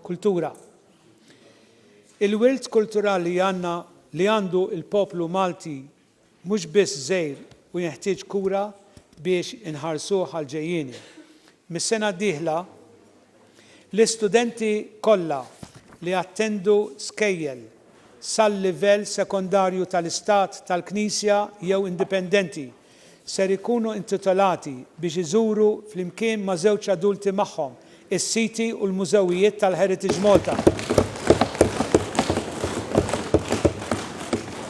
Kultura. Il-wirt kulturali għandna li għandu l-poplu Malti mhux biss żgħir u jenħtieġ kura biex inħarsuh għall-ġejjieni. Mis-sena d-dieħla L-istudenti kollha li jattendu skejjel sal-livell sekondarju tal-Istat, tal-Knisja jew indipendenti ser ikunu intitolati biex iżuru flimkien ma' żewġ adulti magħhom is-siti u l-mużewijiet tal-Heritage Malta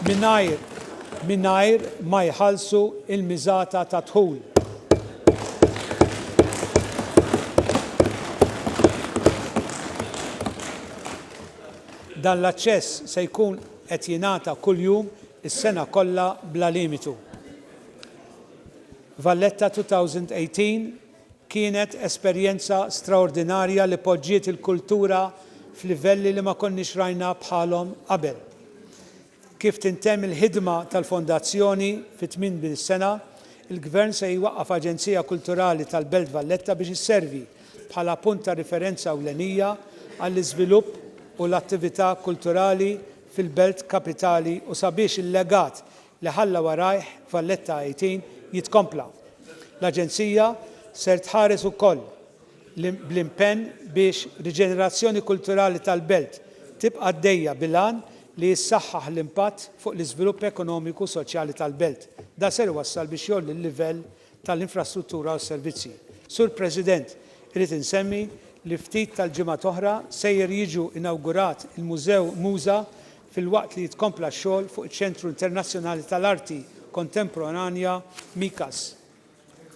mingħajr mingħajr ma jħallsu l-miżata tad-dħul. Dan l-aċċess se jkun qed jingħata kuljum is-sena kollha bla limitu. Valletta 2018 kienet esperjenza straordinarja li poġġiet il-kultura f'livelli li ma konniex rajna bħalhom qabel. Kif tintemm il-ħidma tal-Fondazzjoni fi tminbil sena, il-Gvern se jwaqqaf Aġenzija Kulturali tal-Belt Valletta biex isservi bħala punt ta' riferenza ewlenija għall-iżvilupp u l-attività kulturali fil-Belt Kapitali u sabiex il-legat li ħalla warajh Valletta 18 jitkompla. L-Aġenzija ser tħares ukoll bl-impenn biex riġenerazzjoni kulturali tal-belt tibqa' għaddejja bil-għan li jissaħħaħ l-impatt fuq l-iżvilupp ekonomiku u soċjali tal-belt. Dan ser iwassal biex jgħolli l-livell tal-infrastruttura u s-servizzi. Sur President, irrid insemmi li ftit tal-ġimgħat oħra sejjer jiġu inawgurat il-Mużew MUŻA filwaqt li jitkompla x-xogħol fuq iċ-Ċentru Internazzjonali tal-Arti Kontemporanea, MICAS.